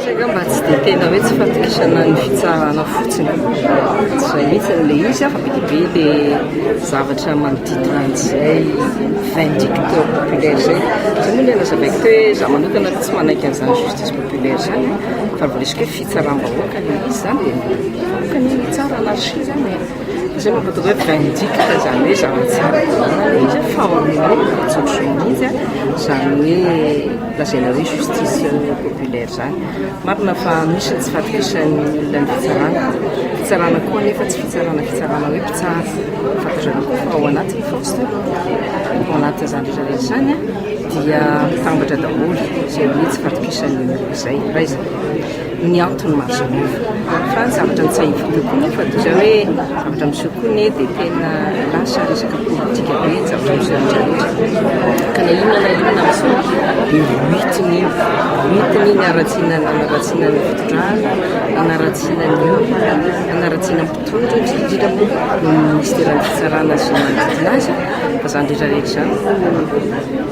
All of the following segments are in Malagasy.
Saingy mba tsy dia tena hoe tsy fahatokisana ny fitsarana fotsiny. Izay mihitsy ilay izy fa be dia be ilay zavatra manodidina an'izay vindicte populaire izay. Izay moa ilay nazavaiko teo hoe za manokana aloha tsy manaiky an'izany justice populaire izany fa raha vao resaka hoe fitsaram-bahoaka ilay izy izany dia ny vahoaka anie no hitsara anarchie izany e. Izay mampatoga hoe vindicte izany hoe zavatra tsara tanana ilay izy fa ao amin'ilay constitution mihitsy a, izany hoe lazaina hoe justice populaire izany. Marina fa misy ny tsy fahatokisan'ny olona ny fitsarana, fitsarana koa anefa tsy fitsarana fitsarana hoe mpitsara, fantatrareo ve fa ao anatin'ny Faositra, ao anatin'izany rehetra rehetra izany dia mitambatra daholo izay hoe tsy fahatokisan'ny olona izay, raha izay. ny antony mahasamihafa. Fa ny zavatra nitsahiviko kokoa moa fa toy izay hoe zavatra miseho koa anie dia tena lasa resaka politika be ny zavatra miseho rehetra rehetra. Ka na inona na inona miseho dia hoentina eo, hoentina iny haratsiana ny hanaratsiana ny fitondrana, hanaratsiana ny olona, hanaratsiana ny mpitondra indrindra moa ny ministeran'ny fitsarana sy ny manodidina azy fa izany rehetra rehetra izany no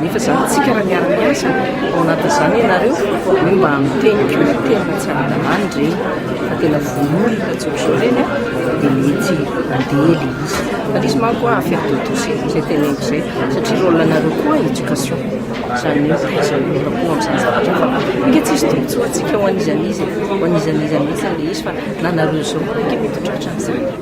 Nefa zany tsika raha miara miasa ao anatin zany ianareo hoe mba miteny ko ny tenina tsy ara-dalàna ireny fa tena vono olona tsotra izao ireny dia mety andeha ilay izy fa ilay izy manko a affaire de tous e izay teneniko izay satria rôle anareo koa éducation izany hoe iza no mety ampo amin'izany zavatra fa ange tsisy tombontsoa antsika ho an'iza n'iza e ho an'iza n'iza mihitsy ilay izy fa na nareo zao koa ange mety ho tratra an'izany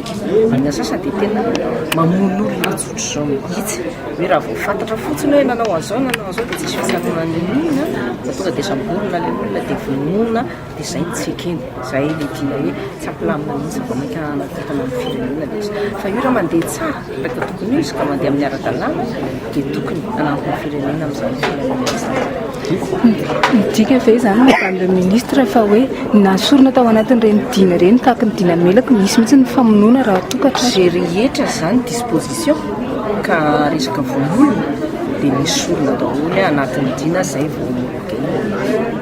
Any antsasany dia tena mamono olona tsotr'izao mihitsy, hoe raha vao fantatra fotsiny hoe nanao an'izao na nanao an'izao dia tsy misy fitsaboana niniana fa tonga dia samborina ilay olona dia vonoina dia izay no tsy ekena, izay ilay tiana hoe tsy ampilamina mihitsy vao mainka hanakotana ny firenena ilay izy. Fa io raha mandeha tsara, raha tokony ho izy ka mandeha amin'ny ara-dalàna, dia tokony hanampy ny firenena amin'izany filaminana izany. Midika ve izany Madame le Ministre fa hoe na sorona tao anatin'ireny dina ireny tahaka ny dina Melaky misy mihitsy ny famonoana raha toa ka tratra? Izay rehetra izany disposition ka resaka vonoana dia misy sorona daholo anatin'ny dina izay vao mamoaka eny.